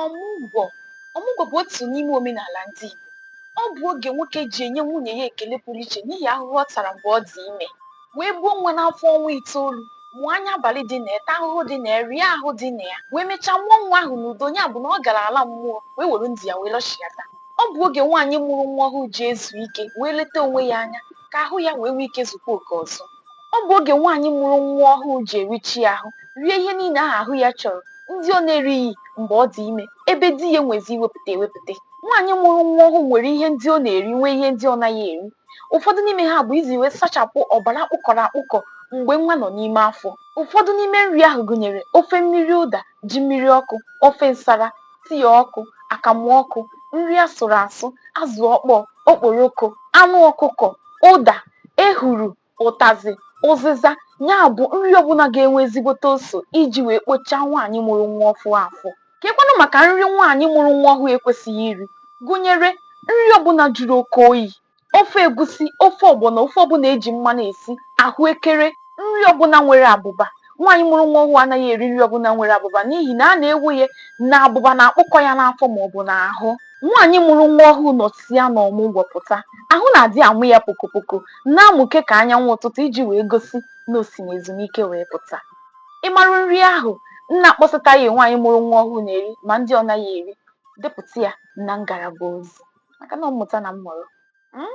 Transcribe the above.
Ọmụgwọ Ọmụgwọ bụ otu n'ime omenala ndị Igbo. Ọ bụ oge nwoke ji enye nwunye ya ekele pụrụ iche n'ihi ahụhụ ọ tara mgbe ọ dị ime, wee buo nwa n'afọ ọnwa itoolu, mụọ anya abalị dị na ya, taa ahụhụ dị na ya, rịa ahụ dị na ya, wee mechaa mụọ nwa ahụ n'udo, ya bụ na ọ gara ala mmụọ wee were ndụ ya wee lọchighata. Ọ bụ oge nwaanyị mụrụ nwa ọhụụ ji ezu ike wee leta onwe ya anya ka ahụ ya wee nwee ike zukwaa oke ọzọ. Ọ bụ oge nwaanyị mụrụ nwa ọhụụ ji erichi ahụ, rie ihe niile ahụ ahụ ya chọrọ, ndị ọ na-erighị mgbe ọ dị ime, ebe di ya enwezi iwepụta ewepụta. Nwaanyị mụrụ nwa ọhụụ nwere ihe ndị ọ na-eri nwee ihe ndị ọ naghị eri. Ụfọdụ n'ime ha bụ iji wee sachapụ ọbara kpụkọrọ akpụkọ mgbe nwa nọ n'ime afọ. Ụfọdụ n'ime nri ahụ gụnyere ofe mmiri ụda, ji mmiri ọkụ, ofe nsara, tii ọkụ, akamụ ọkụ, nri asụrụ asụ, azụ ọkpọọ, okporoko, anụ ọkụkọ, ụda, ehuru, ụtazị, ụzịza, ya bụ nri ọbụla ga-enwe ezigbote ose iji wee kpochaa nwaanyị mụrụ nwa ọfụụ afọ. Keekwanụ maka nri nwaanyị mụrụ nwa ọhụụ ekwesịghị iri, gụnyere nri ọbụla jụrụ oke oyi, ofe egusi, ofe ọgbọnọ, ofe ọbụla e ji mmanụ esi, ahụekere, nri ọbụla nwere abụba. Nwaanyị mụrụ nwa ọhụụ anaghị eri nri ọbụla nwere abụba n'ihi na a na-ekwu ya na abụba na-akpụkọ ya n'afọ maọbụ n'ahụ. Nwaanyị mụrụ nwa ọhụụ nọsịa n'ọmụgwọ pụta, ahụ na-adị amụ ya pokopoko, na-amụke ka anyanwụ ụtụtụ iji wee gosi na o si n'ezumike wee pụta. Ị mara nri ahụ m na-akpọsataghị nwaanyị mụrụ nwa ọhụụ na-eri ma ndị ọ naghị eri? depụta ya na ngalaba ozi maka na mmụta na mmụrụ. um